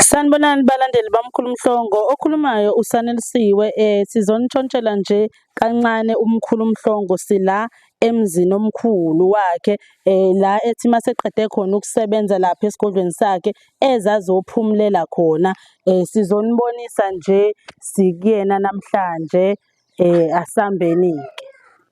Sanibonani balandeli baMkhulu Mhlongo, okhulumayo uSanelisiwe sizonitshontshela nje kancane uMkhulu Mhlongo sila emzini omkhulu wakhe la ethi maseqede khona ukusebenza lapha esigodlweni sakhe ezazophumulela khona. Sizonibonisa nje sikuyena namhlanje asambeni-ke.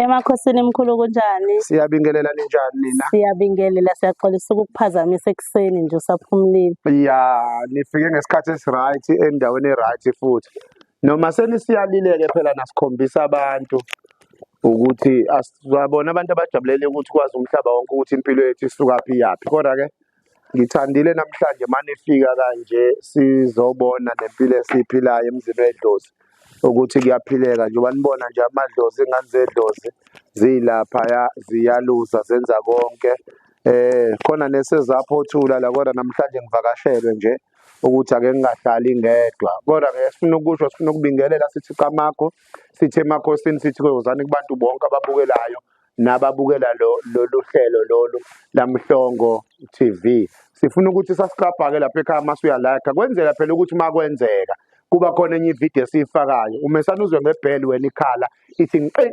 Emakhosini mkhulu kunjani? Siyabingelela ninjani nina? Siyabingelela siyaxolisa ukukuphazamisa ekuseni nje usaphumulile. Ya, nifike ngesikhathi esiright endaweni eright futhi. Noma senisiyalileke phela nasikhombisa abantu ukuthi asizabona abantu abajabulele ukuthi kwazi umhlaba wonke ukuthi impilo yethu isuka phi yaphi. Kodwa ke Ngithandile namhlanje manifika kanje sizobona nempilo esiyiphilayo emzini wedlozi ukuthi kuyaphileka njengoba nibona nje amadlozi ingane zedlozi ziyilaphaya ziyaluza zenza konke eh khona nesezaphothula la kodwa namhlanje ngivakashelwe nje ukuthi ake ngingahlali ngedwa kodwa ke sifuna ukusho sifuna ukubingelela sithi qamakho sithi emakhosini sithi kozani kubantu bonke ababukelayo nababukela lo lolu hlelo lolu laMhlongo TV sifuna ukuthi sasiklabhake lapha ekhaya uma suyalakha kwenzela phela ukuthi uma kwenzeka kuba khona enye ividiyo esiyifakayo umesana uzwe ngebheli wena ikhala ithi nqi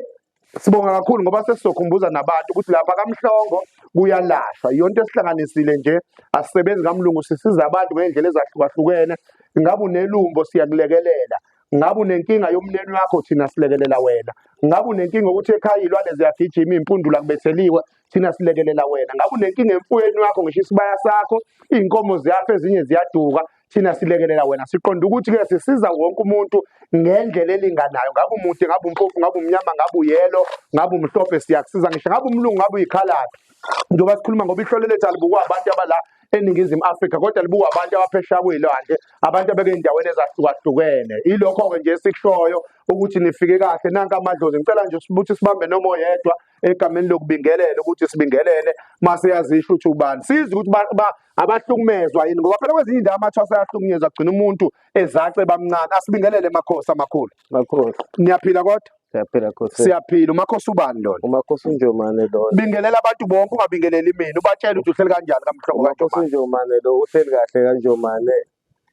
sibonga kakhulu ngoba sesizokhumbuza nabantu ukuthi lapha kamhlongo kuyalashwa yonke esihlanganisile nje asisebenzi kamlungu sisiza abantu ngendlela ezahlukahlukene ngabe unelumbo siyakulekelela ngabe unenkinga yomneni wakho thina silekelela wena ngabe unenkinga ukuthi ekhaya iy'lwane ziyagijima iy'mpundula kubetheliwe thina silekelela wena ngabe unenkinga emfuyweni wakho ngisho isibaya sakho iy'nkomo ziyafa ezinye ziyaduka thina silekelela wena siqonda ukuthi-ke sisiza wonke umuntu ngendlela elinganayo ngabe umude ngabe umpofu ngabe umnyama ngabe uyelo ngabe umhlophe siyakusiza ngisho ngabe umlungu ngabe uyikhalaphi njengoba sikhuluma ngoba ihlole lethu alibukwa abantu abala eningizimu Afrika kodwa libuka abantu abaphesha kuyilwandle abantu abeke endaweni ezahlukahlukene ilokho ke nje esikushoyo ukuthi nifike kahle nanka amadlozi ngicela nje ukuthi sibambe noma oyedwa egameni lokubingelela ukuthi sibingelele mase yazisho ukuthi ubani sizi ukuthi abahlukumezwa yini ngoba phela kwezinye indawo amathwasa ayahlukunyezwa kugcina umuntu ezace bamncane asibingelele emakhosi amakhulu Makhosi. Niyaphila kodwa? Siyaphila Khosi. Siyaphila. Umakhosi ubani lona? Umakhosi uNjomane lona. Bingelela abantu bonke ungabingeleli mina. Ubatshela ukuthi uhleli kanjani kamhlobo Umakhosi kaNjomane. uNjomane lo uhleli kahle kaNjomane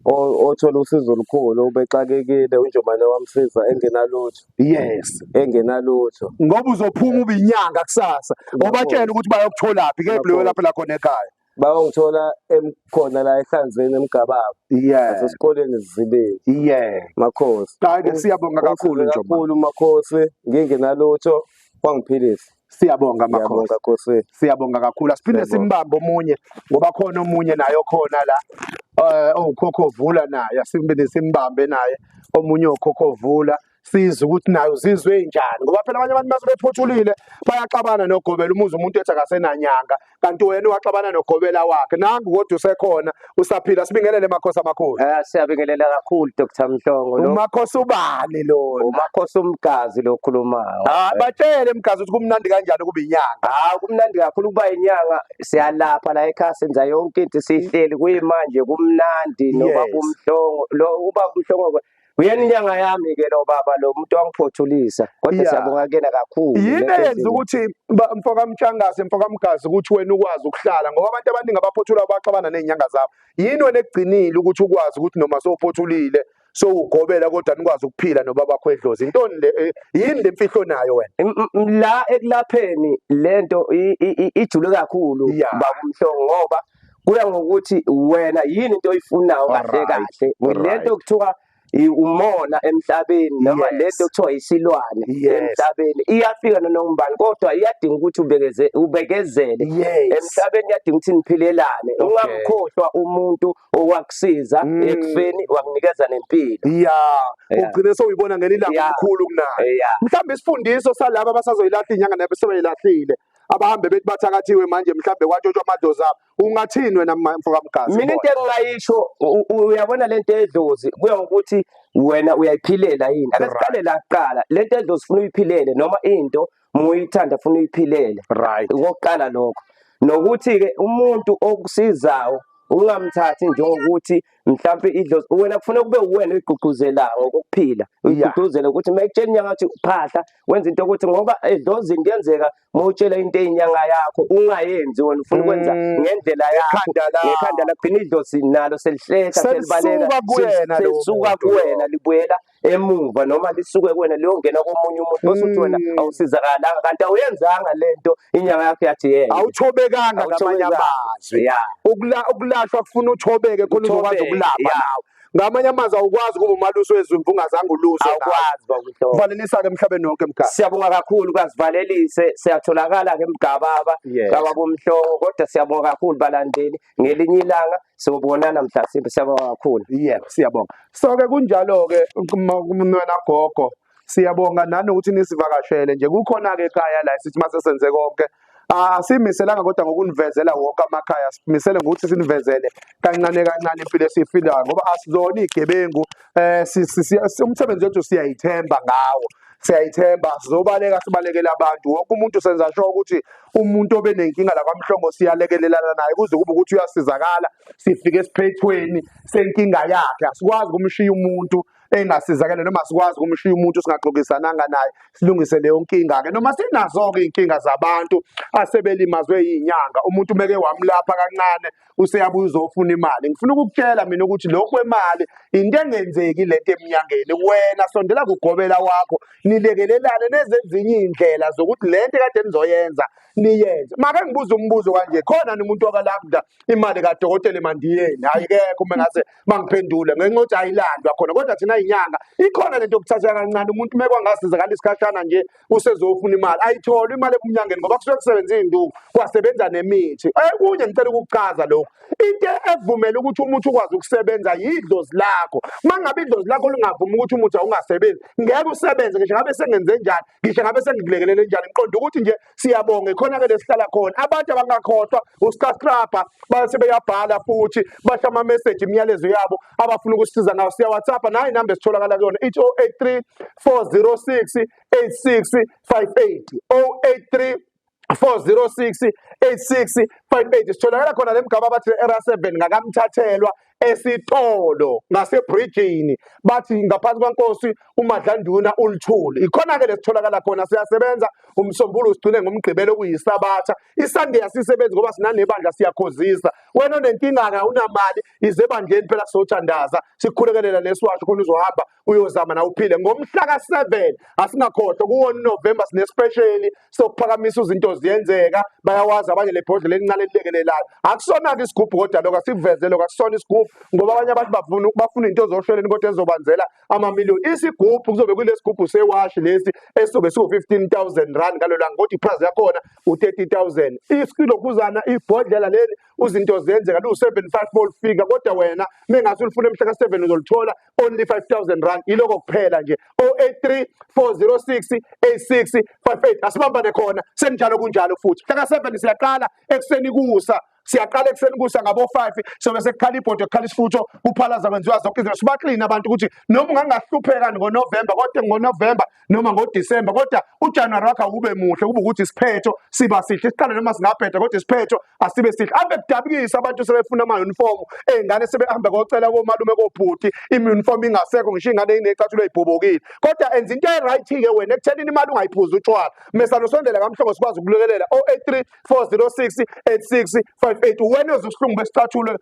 o- othola usizo olukhulu ubexakekile uNjomane wamsiza engenalutho Yes. engenalutho Ngoba uzophuma ubinyanga kusasa. Ubatshela ukuthi bayokutholaphi ke kuleyo lapho la khona ekhaya. bawangithola emkhona la ehlanzweni emgababa yeah nasesikoleni zibili yeah makhosi qake siyabonga kakhulu nje kakhulu makhosi ngingenalutho wangiphilisa siyabonga makhosi khosi siyabonga kakhulu asiphinde simbambe omunye ngoba khona omunye naye okhona la eh owukhokho vula naye asiphinde simbambe naye omunye okhokho vula size ukuthi nayo uzizwe enjani ngoba phela abanye abantu mase bephothulile bayaxabana nogobela umuzi umuntu ethi akasenanyanga kanti wena waxabana nogobela wakhe nangu kodwa usekhona usaphila sibingelele makhosi amakhulu eh siyabingelela kakhulu Dr Mhlongo lo umakhosi ubani lo umakhosi umgazi lo khulumayo ah batshele mgazi ukuthi kumnandi kanjani kuba inyanga ah kumnandi kakhulu kuba inyanga siyalapha la ekhaya senza yonke into sihleli kuyimanje kumnandi noba kumhlongo lo uba kumhlongo Uyena inyanga yami ke lo baba lo muntu wangiphothulisa kodwa Yeah. siyabonga kuyena kakhulu. yini Lento eyenza enzima. ukuthi ba- mfokamtshangase mfokamgazi ukuthi wena ukwazi ukuhlala ngoba abantu abaningi abaphothula baxabana ney'nyanga zabo yini wena ekugcinile ukuthi ukwazi ukuthi noma sowuphothulile sowugobela kodwa nikwazi ukuphila nobabakho edlozi intoni le eh, yini le mfihlo onayo wena M- m- la ekulapheni lento i- i- i- ijule kakhulu Yeah. babumhlongo ngoba kuya ngokuthi wena yini into oyifunayo kahle kahle lento kuthiwa umona emhlabeni noma lento kuthiwa isilwane emhlabeni iyafika nonongubani kodwa iyadinga ukuthi ubekeze ubekezele emhlabeni iyadinga ukuthi niphilelane ungamkhohlwa umuntu owakusiza mm. ekufeni wakunikeza nempilo yeah ugcine sewuyibona ngelilanga omkhulu kunayo mhlawumbe isifundiso salabo abasazoyilahla inyanga nabe sebeyilahlile abahambe bethi bathakathiwe manje mhlambe kwatshotshwa amadlozi abo ungathini wena mfoka mgazi mina into engingayisho uyabona lento edlozi kuya ngokuthi wena uyayiphilela yini akasiqale la kuqala lento edlozi ufuna uyiphilele noma into muyithanda ufuna uyiphilele right ngokuqala lokho nokuthi ke umuntu okusizayo ungamthathi njengokuthi mhlampe idlozi wena kufuna kube uwena oyigqugquzela ngokuphila uyigqugquzela ukuthi uma ekutshela inyanga ukuthi phahla wenza into ukuthi ngoba edlozini kuyenzeka uma utshela into eyinyanga yakho ungayenzi wena ufuna ukwenza mm. ngendlela yakho ngekhanda lakho gcina idlozi nalo selihleka selibaleka selisuka kuwena libuyela emuva noma lisuke kuwena liyongena komunye umuntu bese uthi wena Mm. awusizakalanga kanti awuyenzanga lento inyanga yakho yathi yeke awuthobekanga ngamanye Awuthobekanga. amazwi ya ukula ukulashwa kufuna uthobeke khona uzokwazi Uthobeke, ukulapha yeah. nawe ngamanye amazwi awukwazi ukuba umalusi wezimvu ungazange uluswe nawe. awukwazi bakuhlobo valelisa-ke emhlabeni wonke mkhaya siyabonga kakhulu kazivalelise siyatholakala ke mgababa Yes. kababomhloko kodwa siyabonga kakhulu balandeli ngelinye ilanga sobonana mhla simbe siyabonga kakhulu yebo siyabonga so ke kunjalo ke kumnwena gogo siyabonga nani ukuthi nisivakashele nje kukhona ke ekhaya la sithi mase senze konke asimiselanga kodwa ngokunivezela wonke amakhaya simisele ngokuthi sinivezele kancane kancane impilo esiyifilayo ngoba asizona igebengu eh umsebenzi wethu siyayithemba ngawo siyayithemba sizobaleka sibalekele abantu wonke umuntu senza sho ukuthi umuntu obenenkinga la kwamhlongo siyalekelelana naye kuze kube ukuthi uyasizakala sifike esiphethweni senkinga yakhe asikwazi kumshiya umuntu engasizakele noma sikwazi kumshiya umuntu singaxokisananga naye silungise leyo nkinga ke noma sinazo ke inkinga zabantu asebelimazwe izinyanga umuntu meke wamlapha kancane useyabuya uzofuna imali ngifuna ukukutshela mina ukuthi lokhu kwemali into engenzeki lento emnyangeni wena sondela kugobela wakho nilekelelane nezezinye iy'ndlela zokuthi le nto kade nizoyenza niyenze make ngibuza umbuzo kanje khona nomuntu okalabda imali kadokotela emandiyeni hhayi kekho uma ngase bangiphendule ngenxa yokuthi ayilandwa khona kodwa thina yinyanga ikhona lento yokuthatha kancane umuntu uma kwangasiza ngale isikhashana nje usezofuna imali ayitholi imali ebumnyangeni ngoba kusuke kusebenza iy'nduku kwasebenza nemithi ekunye ngicela ukukuchaza lokhu into evumela ukuthi umuthi ukwazi ukusebenza yidlozi lakho uma ngabe idlozi lakho lingavumi ukuthi umuthi awungasebenzi ngeke usebenze ngisho ngabe sengenze njani ngisho ngabe sengilekelele njani ngiqonda ukuthi nje siyabonga ikhona-ke lesihlala khona abantu abangakhohlwa usicascrabha base beyabhala futhi basho amameseji imiyalezo yabo abafuna ukusisiza ngayo siyawhatsappa nayo inamba esitholakala kuyona ithi 083 406 8658 083 406 8658 sitholakala khona le mgaba abathi era 7 ngakamthathelwa esitolo ngasebridgini bathi ngaphansi kwankosi umadlanduna ulithuli ikhona ke lesitholakala khona siyasebenza umsombulu sigcine ngomgqibelo kuyisabatha isunday asisebenzi ngoba sinanebandla siyakhozisa wena onenkinga awunamali ize bandleni phela sothandaza sikhulekelela lesiwasho khona uzohamba uyozama na uphile ngomhla ka7 asingakhohlwa kuwo November sine special sokuphakamisa izinto ziyenzeka bayawazi abanye lebhodlela elincane lilekelelayo akusona ke isigubhu kodwa lokho asiveze lokho akusona isigubhu ngoba abanye abantu bafuna bafuna into zosheleni kodwa ezobanzela ama million isigubhu kuzobe kulesigubhu sewashi lesi esobe siwo 15000 rand ngalolanga kodwa iprice yakhona u30000 isilokhuzana ibhodlela leli uzinto zenzeka liwu-seven five bolifika kodwa wena mengase ulifuna emhla ka-seven uzolithola only five thousand rand yiloko kuphela nje o-eight three four zero six eight six five eight asibambane khona senjalo kunjalo futhi mhla ka-seven siyaqala ekuseni kusa siyaqala ekuseni kusa ngabo-five sobe sekukhala ibhodo kukhala isifutho kuphalaza kwenziwa zonke izinto sibaklini abantu ukuthi noma ungangahlupheka ngonovemba kodwa ngonovemba noma ngoDisemba kodwa uJanuary wakhe awube muhle kube ukuthi isiphetho siba sihle siqale noma singabheda kodwa isiphetho asibe sihle ave kudabukisa abantu sebefuna ama uniform ezingane sebehamba kocela komalume kobhuti iuniform ingasekho ngisho ingane inecathulo ibhobokile kodwa enza into eright ke wena ekutheni imali ungayiphuza utshwala mesalo sondela kamhlongo sikwazi ukulekelela 083 406 8658 wena uzokuhlungu besicathulo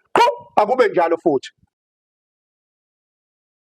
akube njalo futhi